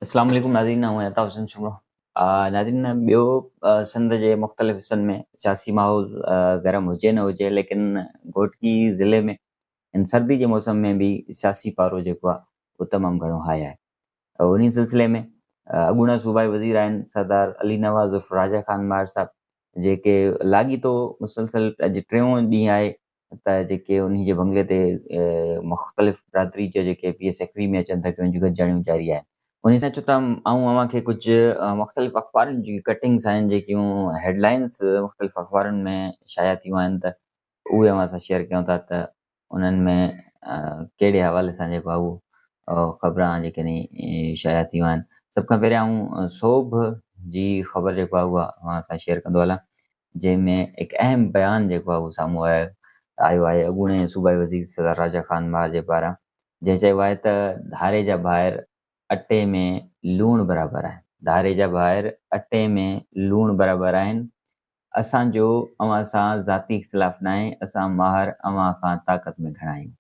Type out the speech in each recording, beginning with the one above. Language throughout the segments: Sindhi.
اسلام عليڪم ناظرين آئون عطا حسين شمرو ناظرين ٻيو سنڌ جي مختلف حصن ۾ سياسي ماحول گرم هجي نه هجي ليڪن گهوٽڪي ضلعي ۾ ان سردي جي موسم ۾ به سياسي پارو جيڪو آهي اهو تمام گهڻو هاء آهي انهي سلسلي ۾ اڳوڻا صوبائي وزير آهن سردار علي نواز عرف راجا خان ماهر صاحب جيڪي لاڳيتو مسلسل اڄ ٽيون ڏينهن آهي اتان جا جيڪي انهي جي بنگلي تي مختلف برادري جا جيڪي پيء سيڪري ۾ اچن ٿا پيا ان جون گڏجاڻيون جاري آهن. انهي سان چوٿ آئون اوهان کي ڪجهه مختلف اخبارن جون ڪٽنگس آهن جيڪيون هيڊ لائنس مختلف اخبارن ۾ شايع ٿيون آهن ته اهي اوهان سان شيئر ڪيون ٿا ته انهن ۾ ڪهڙي حوالي سان جيڪو آهي اهو خبران آهن جيڪي شايع ٿيون آهن. سڀ کان پهريان آئون سوڀ جي خبر جيڪو آهي اها اوهان سان شيئر ڪندو هلان جنهن ۾ هڪ اهم بيان جيڪو آهي اهو سامهون آيو آيو آهي اڳوڻي صوبائي وزير سردار راجا خان مار جي پاران جنهن چيو آهي ته ڌاري جا ڀائر اٽي ۾ لوڻ برابر آهن ڌاري جا ڀائر اٽي ۾ لوڻ برابر آهن اسان جو اوهان سان ذاتي اختلاف ناهي اسان ماهر اوهان کان طاقت ۾ گهڻا آهيون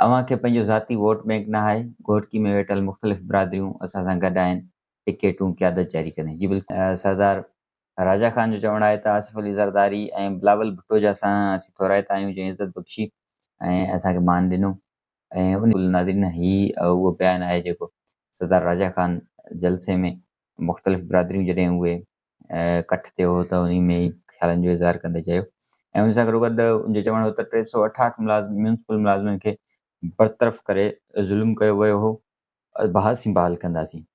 اوهان کي پنهنجو ذاتي ووٽ بينڪ ناهي گهوٽڪي ۾ ويٺل مختلف برادريون اسان سان گڏ آهن ٽڪيٽون قيادت جاري ڪندي جي بلڪل سردار راجا خان جو چوڻ آهي ته آصف علي زرداري ۽ بلاول ڀٽو جا سانحا اسين ٿورائتا آهيون جنهن عزت بخشي ۽ اسان کي مان ڏنو ۽ ان ناظرين هي اهو بيان آهي جيڪو سردار راجا خان جلسي ۾ مختلف برادريون جڏهن اهي ڪٺ ٿيو هو ته انهي ۾ خيالن جو اظهار ڪندي چيو ۽ ان سان گڏو گڏ ان جو چوڻ هو ته ٽي سؤ اٺاهٺ ملازم ميونسپل ملازمن کي برطرف ڪري ظلم ڪيو ويو هو بحاثي بحال ڪنداسين.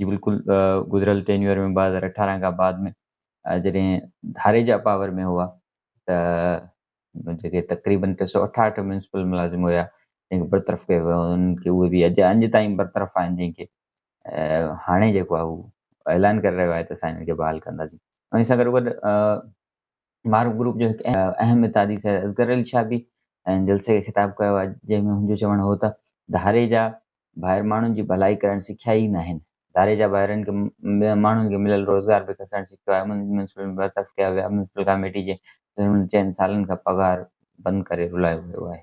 جي بلڪل گذريل ٽينيور ۾ ٻه هزار اٺارهن کان بعد ۾ جڏهن ڌاريجا پاور ۾ هئا ته جيڪي تقريبن ٽي سؤ اٺاهٺ ميونسپل ملازم هيا جن کي برطرف ڪيو ويو انهن کي اهي به اڄ اڃ تائين برطرف آهن جن کي هاڻي جيڪو آهي اهو اعلان ڪري رهيو آهي ته اسان هنن کي بحال ڪنداسين انهي سان گڏوگڏ معروف گروپ جو هڪ اهم اتحادي سيد اصغر علي شاهه به ۽ جلسي کي خطاب ڪيو آهي جنهن ۾ هن جو چوڻ هو ته ڌاري جا ڀائر ماڻهن جي ڀلائي ڪرڻ سکيا ئي ناهن ڌاري جا ڀائرن کي ٻين ماڻهن کي مليل روزگار به کسڻ سکيو آهي ميونسپل برطرف ڪيا ويا ميونسپل ڪاميٽي جي چئن سالن کان پگهار بند ڪري رلايو ويو آهي.